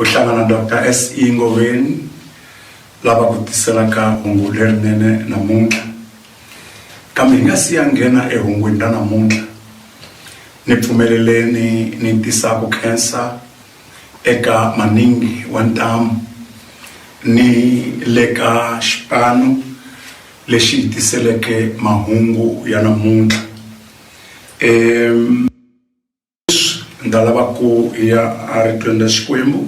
u hlangana Doctor SE Ngoveni lava ku tiselaka hungu lerinene namuntlha kambe hi nga si ya nghena ehungwini ra namuntlha ni pfumeleleni ni tisa ku khensa eka maningi wa ntamu ni le ka xipano lexi hi tiseleke mahungu ya namuntlha um leswi ni nga lava ku ya a ritlweni ra xikwembu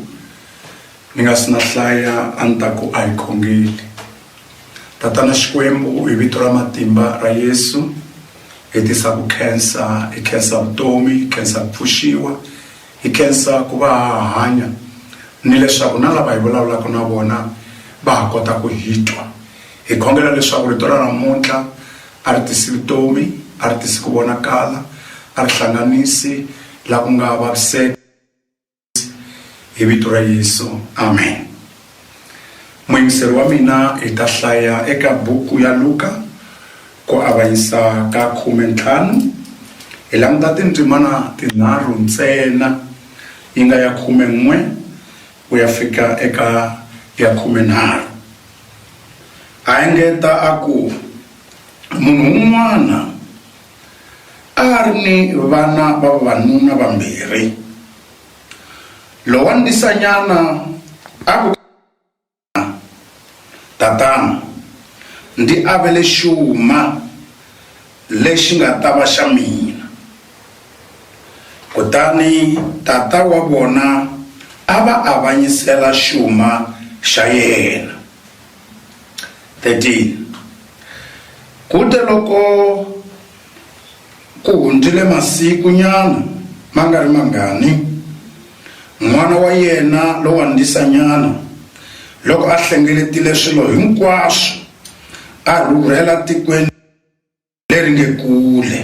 ni nga si na hlaya a ni ta ku a hi khongeli tatana xikwembu hi vito ra matimba ra yesu hi tisa ku khensa hi khensa vutomi hi khensa ku pfuxiwa hi khensa ku va ha hanya ni leswaku na lava hi vulavulaka na vona va ha kota ku hi twa Hi khongela leswaku Rito ra namuntlha a ri tisi vutomi, a ri tisi ku vonakala, a ri hlanganisi laha ku nga vaviseka, hi Vito ra Yesu, amen. Muyingiseri wa mina, hi ta hlaya eka buku ya Luka, ku avanyisa ka khume ntlhanu. Hi languta tindzimana tinharhu ntsena, yi nga ya khume n'we ku ya fika eka ya khume nharhu. A engeta a ku, Munhu un'wana a a ri ni vana va vavanuna vambirhi. Lowa ndisanyana a ku eka yena, Tatana, ndi avele xuma lexi nga ta va xa mina. Kutani tata wa vona a va avanyisela xuma xa yena. 13 Ku te loko ku hundzile masiku nyana ma nga ri mangani, n'wana wa yena lowandzisa nyana loko a hlengeletile swilo hinkwaswo a rhurhela tikweni leri nge Kule,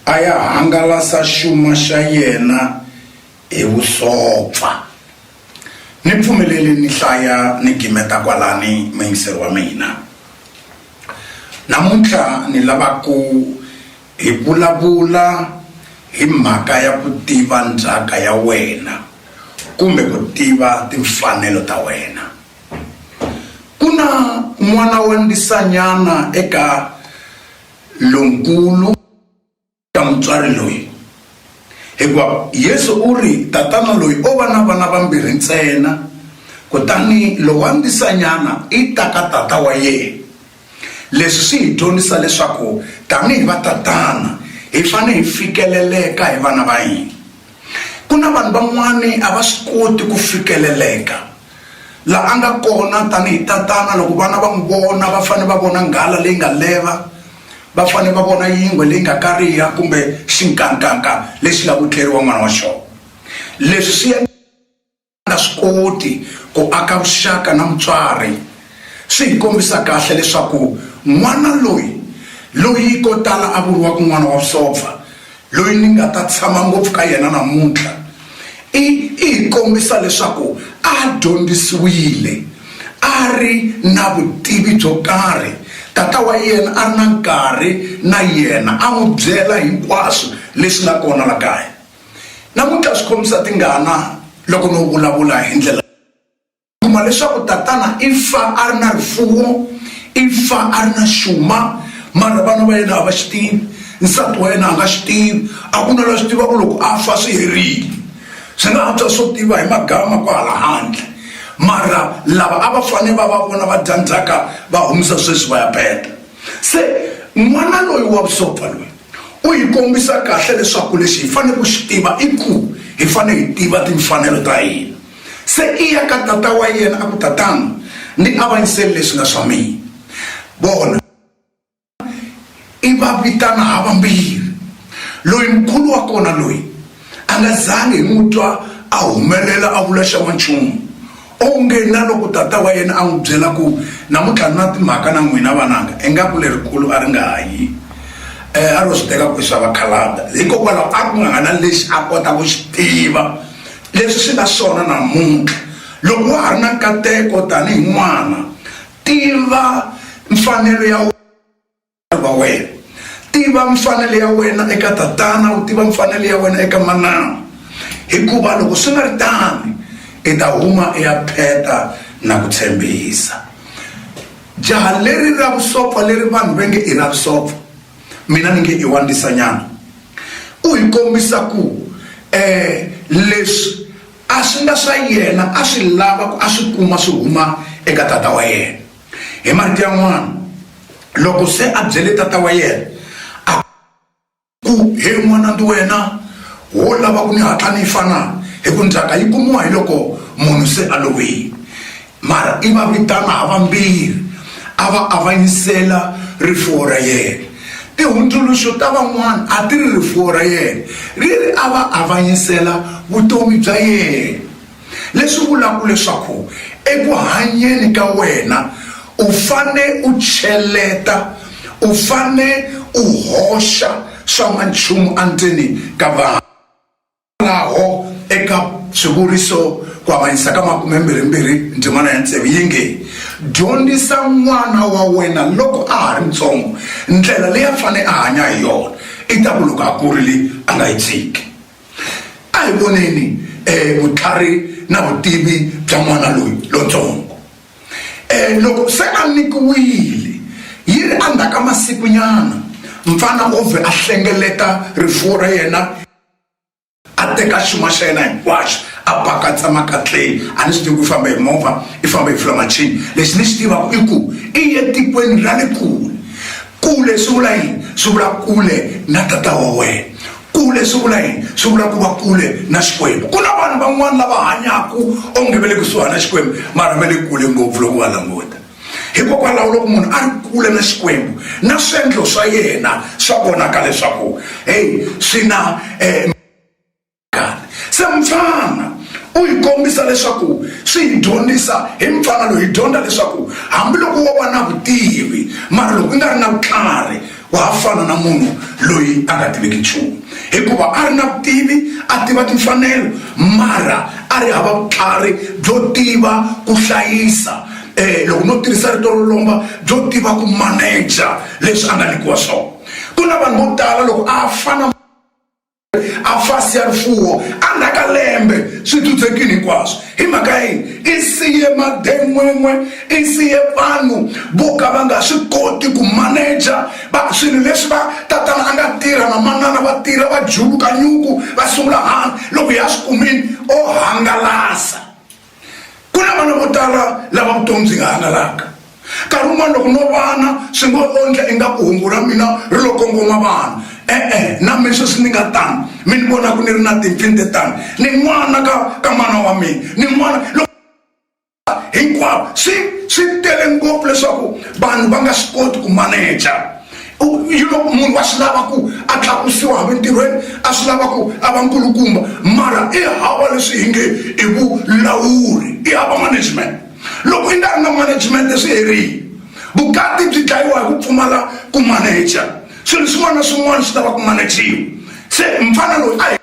a ya hangalasa xuma xa yena hi vusopfa. Ni pfumeleli ni hlaya ni gimeta kwalani muyingiseri wa mina. Namuntlha ni lava ku hi vulavula hi mhaka ya ku tiva ndzhaka ya wena kumbe ku tiva timfanelo ta wena. Ku na n'wana wa ndisanyana eka lonkulu ka mutswari loyi, hikuva Yesu u ri, Tatana loyi o va na vana vambirhi ntsena, kutani lowa ndisanyana i ta ka tata wa yena. Leswi swi hi dyondzisa leswaku tanihi vatatana hi fanele hi fikeleleka hi vana va hina. Ku na vanhu van'wani a va swi koti ku fikeleleka la a nga kona tanihi tatana loko vana va n'wi vona va fanele va vona nghala leyi nga leva va fanele va vona yingwe leyi nga kariha kumbe xinkankanka lexi nga ku tleriwa n'wana wa xona leswi swi a nga swi koti ku aka vuxaka na mutswari swi hi kombisa kahle leswaku n'wana loyi loyi ko tala a vuriwaka n'wana wa vusopfa loyi ni nga ta tshama ngopfu ka yena namuntlha i i hi kombisa leswaku a dyondzisiwile a ri na vutivi byo karhi tata wa yena a ri na nkarhi na yena a n'wi byela hinkwaswo leswi nga kona la kaya Namuntlha swi khomisa tingana loko no vulavula hi ndlela kuma leswaku tatana i fa a ri na rifuwo i fa a ri na xuma mara vana va yena a va xi tivi nsati wa yena a nga xi tivi a ku na la swi tiva ku loko a fa swi herile swi nga antswa swo tiva hi magama kwahala handle mara lava a va fane va va vona va dya ndzhaka va humisa sweswi va ya peta se n'wana loyi wa vusopfa loyi U hi kombisa kahle leswaku lexi hi fanele ku xi tiva i ku hi fanele hi tiva timfanelo ta hina. Se i ya ka tata wa yena a ku, Tatana, ndzi avanyisele leswi nga swa mina. Vona, i va vitana havambirhi, loyi mukulu wa kona loyi, A nga zangi hi n'wi twa a humelela a vula xa n'wanchumu. Onge na loko tata wa yena a n'wi byela ku, Namuntlha ni na timhaka na n'wina vananga, ingaku lerikulu a ri nga ha yi. E, a ro swi teka ku i swa vakhalabya. Hikokwalaho a ku nga ha na lexi a kota ku xi tiva. Leswi swi nga swona namuntlha. Loko wa ha ri na nkateko tanihi n'wana, tiva mfanelo ya. va wena tiva mfanelo ya wena eka tatana u tiva mfanelo ya wena eka manana hikuva loko swi nga ri tani i ta huma i ya pheta na ku tshembisa jaha leri ra vusopfa leri vanhu va nge i ra vusopfa mina ni nge i wa ndisanyana u hi kombisa ku um eh, leswi a swi nga swa yena a swi lava ku a swi kuma swi huma eka tata wa yena Hi marito yan'wana, loko se a byele tata wa yena a ku, He n'wana, ndi wena wo lava ku ni hatla ni fa na? Hi ku ndzhaka yi kumiwa hi loko munhu se a lovile. Mara i va vitana ha vambirhi, a va avanyisela rifuwo ra yena. Tihundzuluxo ta van'wana a ti ri rifuwo ra yena ri ri a va avanyisela vutomi bya yena. leswi vulaka leswaku eku hanyeni ka wena u fane u cheleta u fane u hoxa swa n'wanchumu endzeni ka vanhu laho eka swivuriso ku avanyisa ka makumembirhimbirhi ndzimana ya tsevu yi nge dyondzisa n'wana wa wena loko a ha ri ntsongo ndlela leyi a fane a hanya hi yona i ta ku loko a kurile a nga yi tshiki A hi voneni vutlhari na vutivi bya n'wana loyi lontsongo. Loko se a nyikiwile yi ri endzhaku ka masikunyana, mfana u vhe a hlengeleta rifuwo ra yena, a teka xuma xa yena hinkwaxo a pakatsa makatleni. A ni swi tivi ku i fambe hi movha, i fambe hi flamachini. Lexi ni xi tivaka i ku i ye etikweni ra le kule. Kule swi vula yini? Swi vula kule na tata wa wena. Kule swi vula yini? Swi vula ku va kule na Xikwembu. Ku na vanhu van'wana lava hanyaka onge va le kusuhana na Xikwembu mara va le kule ngopfu loko u va languta. Hikokwalaho loko munhu a ri kule na Xikwembu na swiendlo swa yena swa vonaka leswaku heyi swi na se mupfana u hi kombisa leswaku swi hi dyondzisa hi mupfana loyi hi dyondza leswaku hambiloko wo va na vutivi mara loko u nga ri na vutlhari wa ha fana na munhu loyi a nga tiviki nchumu hikuva a ri na vutivi a tiva timfanelo mara a ri hava vutlhari byo tiva ku hlayisa um loko no tirhisa rito ro lomba byo tiva ku maneja leswi a nga nyikiwa swona ku na vanhu vo tala loko a fana a fasi ya rifuwo a ndzhaku ka lembe swi dzudzekile hinkwaswo hi mhaka ya yini i siye maden'wen'we i siye vanhu vo ka va nga swi koti ku maneja va swilo leswi va tatana a nga tirha na manana va tirha va juluka nyuku va sungula hanga loko hi ya swi kumile o hangalasa Ku na vana vo tala lava vutomi byi nga hangalaka. Nkarhi wun'wana loko no vana swi ngo ondla ingaku hungu ra mina ri lo kongoma vanhu. E-e, na mina sweswi ni nga tano, mi ni vona ku ni ri na timpfini to tano, ni n'wana ka ka mana wa mina, ni n'wana loko hinkwavo swi swi tele ngopfu leswaku vanhu va nga swi koti ku maneja. you know munhu wa swi lava ku a tlakusiwa ha mintirhweni a swi lava ku a va nkulukumba mara i hava leswi hi nge i vulawuri i hava management loko i nga ri na management leswi herile vukati byi dlayiwa hi ku pfumala ku manager swilo swin'wana na swin'wana swi lava ku manajiwa se mfana loyi a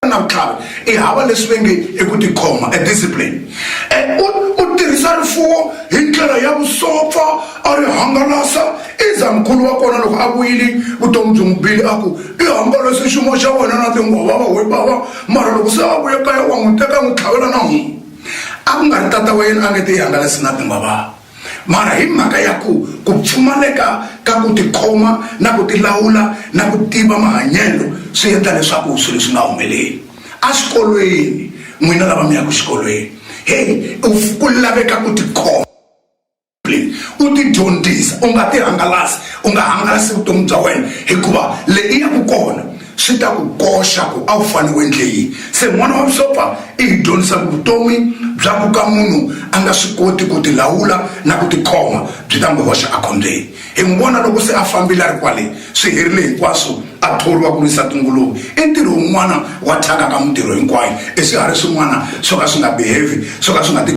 na vutlhari i hava leswi ve nge i ku tikhoma a discipline and u u tirhisa rifuwo hi ndlela ya vusopfa a ri hangalasa iza mukulu wa kona loko a vuyile vutomi byi n'wi bile a ku i hangalase xiyimo xa wena na tinghova va we bava mara loko se a vuye kaya wa n'wi teka n'wi tlhavela na n'wi a ku nga ri tata wa yena a nge te i hangalasi na tinghova mara hi mhaka ya ku ku pfumaleka ka ku tikhoma na ku tilawula na ku tiva mahanyelo swi endla leswaku swilo swi nga humeleli exikolweni n'wina lava mi yaka xikolweni heyi ku laveka ku tikhoma u ti dyondzisa u nga ti hangalasi u nga hangalasi vutomi bya wena hikuva leyi ya ku kona Swi ta ku koxa ku a wu fane u endle yini. Se N'wana wa Vusopfa i hi dyondzisa ku vutomi bya ku ka munhu a nga swi koti ku tilawula na ku tikhoma byi ta n'wi hoxa ekhombyeni. Hi n'wi vona loko se a fambile a ri kwale, swi herile hinkwaswo, a thoriwa ku risa tinguluve. I ntirho wun'wana wa thyaka ka mintirho hinkwayo, i swiharhi swin'wana swo ka swi nga behave, swo ka swi nga ti.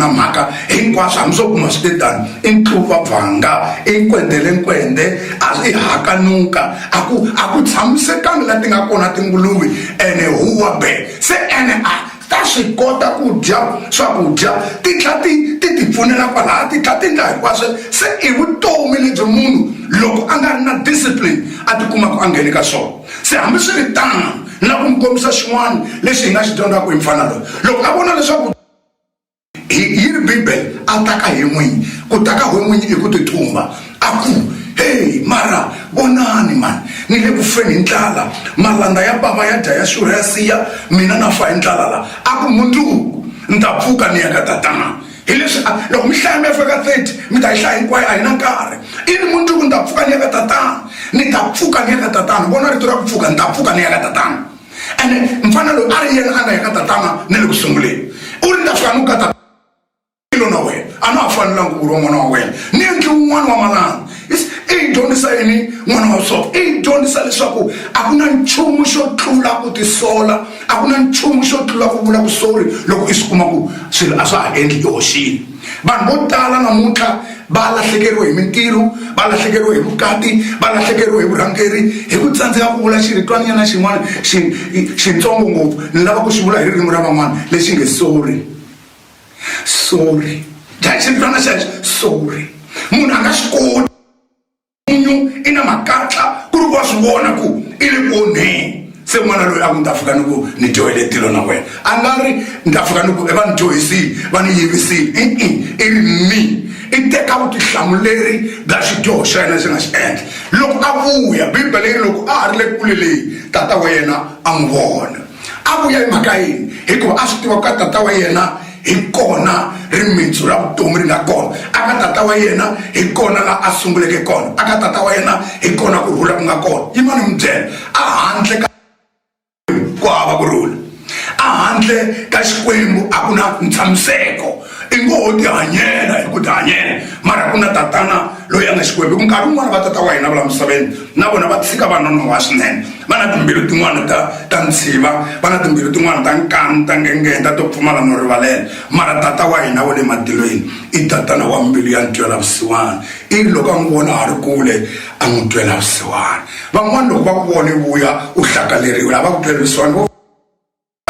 na mhaka hinkwaswo hambi swo kuma swi te tani i ntluva bvanga i nkwendele nkwende a i hakanuka a ku a ku tshamisekangi la ti nga kona tinguluve ene huwa be se ene a ta swi kota ku dya swakudya ti tlha ti ti ti pfunela kwalaya ti tlha ti nga hinkwaswo se i vutomi lebyi munhu loko a nga ri na discipline a ti kuma ku a nghene ka swona se hambi swi ri tano na ku mi kombisa xin'wana lexi hi nga xi dyondzaka hi mfana loyi loko a vona leswaku Hi yi ri Bibele, A ta ka he n'winyi, ku ta ka he n'winyi i ku tithumba, a ku, Hey, mara vonani, mani, ni le ku feni hi ndlala, malandza ya bava ya dya ya xurha ya siya, mina na fa hi ndlala la. A ku, Mundzuku ni ta pfuka ni ya ka tatana. Hi leswi a, loko mi hlaya mi ya fika ka 30, mi ta yi hlaya hinkwayo, a hi na nkarhi. I ri, Mundzuku ni ta pfuka ni ya ka tatana, ni ta pfuka ni ya ka tatana. Vona rito ra ku pfuka, ni ta pfuka ni ya ka tatana. ene mfana loyi a ri yena a nga ya ka tatana na le ku sunguleni u ri ndza fika ni ku ka tatana ilo na wena a na ha fanelanga ku vuriwa n'wana wa wena ni endli wun'wana wa malanga i yi dyondzisa yini n'wana wa swona i yi dyondzisa leswaku a ku na nchumu xo tlula ku tisola a ku na nchumu xo tlula ku vula vusori loko i swi kuma ku swilo a swa ha endli i hoxile vanhu vo tala namuntlha va lahlekeriwe hi mintirho va lahlekeriwe hi vukati va lahlekeriwe hi vurhangeri hi ku tsandzeka ku vula xiritwanyana xin'wana xi xintsongo ngopfu ni lava ku xi vula hi ririmi ra van'wana lexi nge sorry sorry dya xiritwana xexo sorry munhu a nga xi koti n'winyu i na makatla ku ri ku wa swi vona ku i le ku onheni se n'wana loyi a ku ni ta fika ni ku ni dyohele tilo na wena a nga ri ni ta fika ni ku va ni dyohisile va ni yivisile i i i ri mi i teka vutihlamuleri bya xidyoho xa yena lexi nga xi endla loko a vuya bibele yi loko a ha ri le kule leyi tata wa yena a n'wi vona a vuya hi mhaka yini hikuva a swi tiva ku ka tata wa yena hi kona rimitsu ra vutomi ri nga kona aka tata wa yena hi kona la a sunguleke kona aka tata wa yena hi kona ku rhula ku nga kona yi mani mi byela a handle ka ku hava ku rhula a handle ka xikwembu a ku na ntshamiseko i ngo ho tihanyela hi ku tihanyela mara ku na tatana loyi a nga xikwembu hi ku nkarhi wun'wana va tata wa hina va la misaveni na vona va tshika va nonoha swinene va na timbilu tin'wana ta ta ntshiva va na timbilu tin'wana ta nkani ta ngengeta to pfumala no rivalela mara tata wa hina wa le matilweni i tatana wa mbilu ya ntwela vusiwana i ri loko a n'wi vona a ri kule a n'wi twela vusiwana van'wana loko va ku vona vuya u hlakaleriwile a va ku twela vusiwana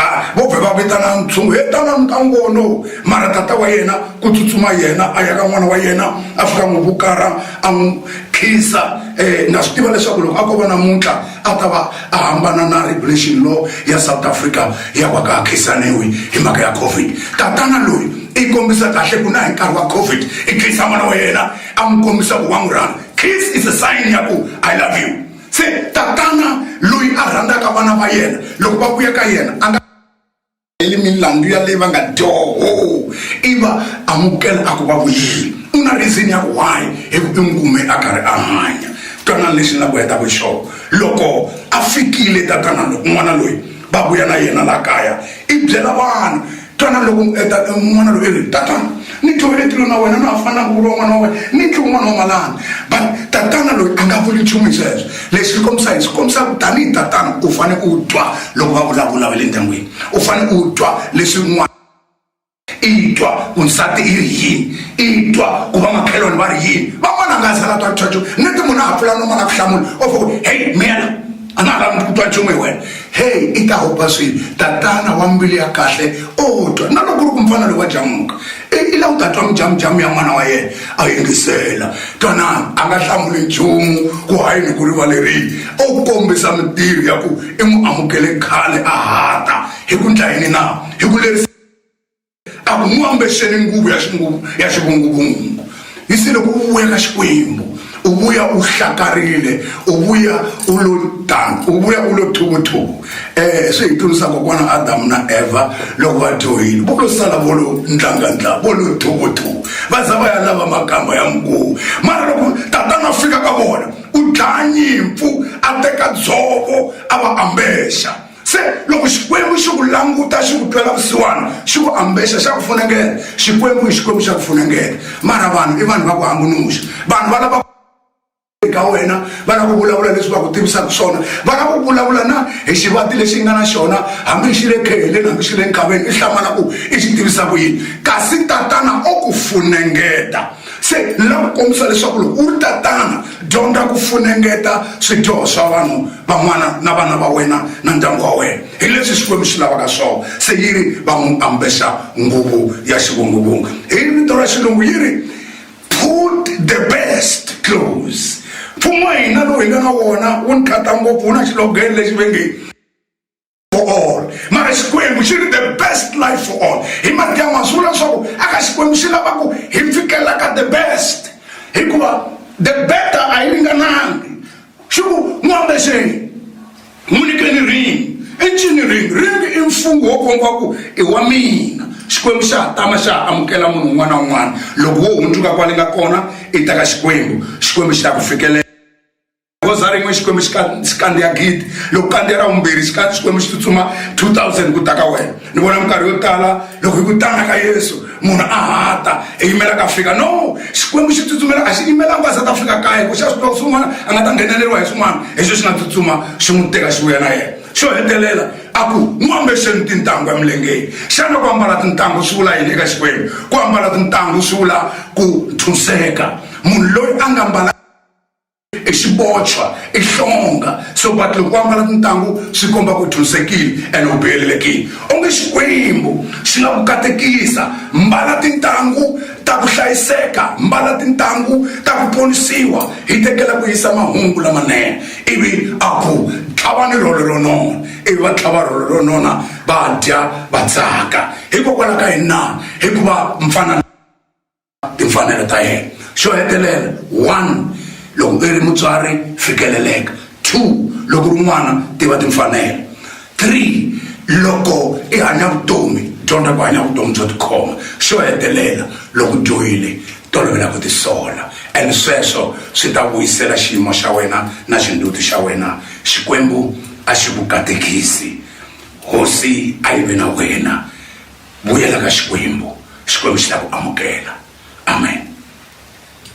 a vo vhe va vitana ntshungu he tanani ka ngono mara tata wa yena ku tsutsuma yena a ya ka n'wana wa yena a fika n'wi vukara a n'wi khisa um na swi tiva leswaku loko a ko va namuntlha a ta va a hambana na regulation law ya south africa ya va ka a khisaniwi hi mhaka ya covid tatana loyi i kombisa kahle ku na hi nkarhi wa covid i khisa n'wana wa yena a n'wi kombisa ku wa n'wi rhanga kiss is a sign ya ku i love you Se tatana loyi a rhandzaka vana va yena loko va vuya ka yena a nga eli milandzu ya leyi va nga dyoho i va amukela a ku va vuyile u na reason ya ku why hi ku i n'wi kume a karhi a hanya twanani lexi ni la ku hetaka xona loko a fikile tatana loko n'wana loyi va vuya na yena la kaya i byela vanhu twana loko n'wana loyi ri tatana ni tlovele tilo na wena na ha fanelanga ku vuriwa n'wana wa wena ni tliwi n'wana wa malani but tatana loyi a nga vuli nchumu hi sweswo lexi xi kombisa hi swi kombisa ku tanihi tatana u fane u twa loko va vulavula va le ndyangwini u fane u twa leswi n'wana i twa ku nsati i ri yini i twa ku va makhelwani va ri yini van'wana a nga zala twa ntswatswo ni ti munhu a ha pfula noma na ku hlamula o fo ku heyi miyela a na ha lavi ku twa nchumu hi wena heyi i ta hopa swilo tatana wa mbilu ya kahle o twa na loko ri ku mfana lowu wa jamuka i la u ta twa mujamujamu ya n'wana wa yena a yingisela twanani a nga hlamuli nchumu ku hayi ni ku rivalerile o kombisa mitirho ya ku i n'wi amukele khale a hata hi ku ndlayini na hi ku lerisa a ku n'wi ambexeni nguvu ya xinguvu ya xivunguvungu yi se loko u vuya ka xikwembu u vuya u hlakarile u vuya u lo tano u vuya u lo thuvuthuvu um eh, swi hi tlurisa kokwana adamu na evha loko va dyohile vo lo sala vo lo ndlangandla vo lo thuvuthuvu va za va ya lava makamba ya nguvu mara loko tatana fika ka vona u dlaya nyimpfu a teka dzovo a va ambexa Se loko Xikwembu xi ku languta xi ku twela vusiwana xi ku ambexa xa ku funengeta Xikwembu i Xikwembu xa ku funengeta mara vanhu i vanhu va ku hambunuxa vanhu va lava ka wena va lava ku vulavula leswi va ku tivisaka swona va lava ku vulavula na hi xivati lexi nga na xona hambi xi le kheheleni hambi xi le nkaveni i hlamala ku i xi tivisa ku yini kasi tatana o ku funengeta Se ni lava ku kombisa leswaku loko u ri tatana dyondza ku funengeta swidyoho swa vanhu van'wana na vana va wena na ndyangu wa wena hi leswi Xikwembu xi lavaka swona. Se yi ri va n'wi ambexa nguvu ya xivunguvungu. Hi vito ra Xilungu yi ri, Put the best clothes. Mfumo wa hina lowu hi nga na wona wu ni khata ngopfu, wu na xilogene lexi va nge, for all mara xikwembu xi ri the best life for all hi madyama swi vula leswaku aka xikwembu xi lava ku hi fikela ka the best hikuva the better a yi ringanangi xi ku n'wi ambexeni n'wi nyikeni ringi i ncini ringi ringi i mfungho wo komba ku i wa mina xikwembu xa hatama xa ha amukela munhu un'wana na un'wana loko wo hundzuka kwale nga kona i ta ka xikwembu xikwembu xi ta ku fikelela goza rin'we xikwembu xi kandziya gidi loko kandziya ra vumbirhi xikwembu xi tsutsuma 2000 ku ta ka wena ni vona minkarhi yo tala loko hi ku tana ka yesu munhu a hata hi yimela ka fika no xikwembu xi tsutsumela a xi yimelanga a za ta fika kaya ku xa swi tiva swin'wana a nga ta ngheneleriwa hi swin'wana hi xo xi nga tsutsuma xi n'wi teka xi vuya na yena xo hetelela a ku n'wi ambexeni tintangu emilengeni xana ku ambala tintangu swi vula yini eka xikwembu ku ambala tintangu swi vula ku nthuseka munhu loyi a nga mbala i xibochwa i hlonga so but loko va ambala tintangu swi komba ku thunsekile and u biyelelekile onge xikwembu xi nga ku katekisa mbala tintangu ta ku hlayiseka mbala tintangu ta ku ponisiwa hi tekela ku yisa mahungu lamanene ivi a ku tlhava ni rholo ro nona ivi va tlhava rholo ro nona va dya va tsaka hikokwalaho ka yini na hikuva mfanana timfanelo ta yena xo hetelela one loko u ri mutswari fikeleleka two loko ri n'wana tiva timfanelo three loko i hanya vutomi dyondza ku hanya vutomi byo tikhoma xo hetelela loko dyohile tolovela ku tisola and sweswo swi ta vuyisela xiyimo xa wena na xinduti xa wena xikwembu a xi ku katekisi hosi a yi ve na wena vuyela ka xikwembu xikwembu xi ta ku amukela amen